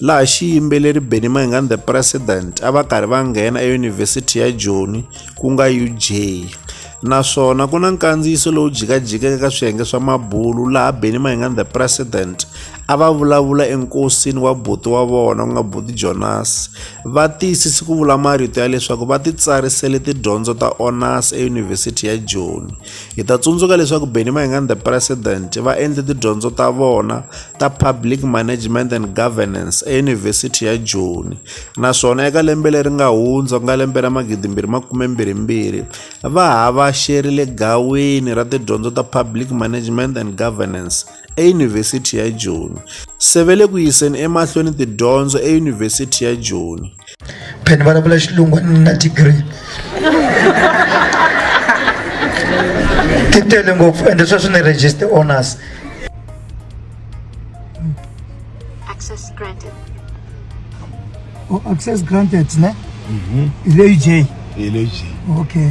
laha xiyimbeleri Benny Mayengani the President a va karhi va nghena eYunivhesiti ya Joni ku nga UJ naswona ku na nkandziyiso lowu jikajikeke ka swiyenge swa mabulu laha Benny Mayengani the President a va vulavula enkosini wa buti wa vona ku nga buti Jonas va tiyisisi ku vula marito ya leswaku va titsarisele tidyondzo ta honors eYunivhesiti ya Joni Hi ta tsundzuka leswaku Benny Mayengani the President va endle tidyondzo ta vona ta Public Management and Governance eYunivhesiti ya Joni naswona eka lembe leri nga hundza ku nga lembe ra magidimbirhi makumembirhimbirhi va ha va xerile gawini ra tidyondzo ta Public Management and Governance eYunivhesiti ya Joni, se va le ku yiseni emahlweni tidyondzo eYunivhesiti ya Joni. Pheni vulavula xilungu a ni na degree ti tele ngopfu ende sweswi ni register honors access granted oh, access granted ne mhm. hi leyi j hi leyi j okay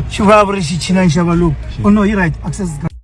xi vulavuri xi chinani xa valungu oh no yi right access granted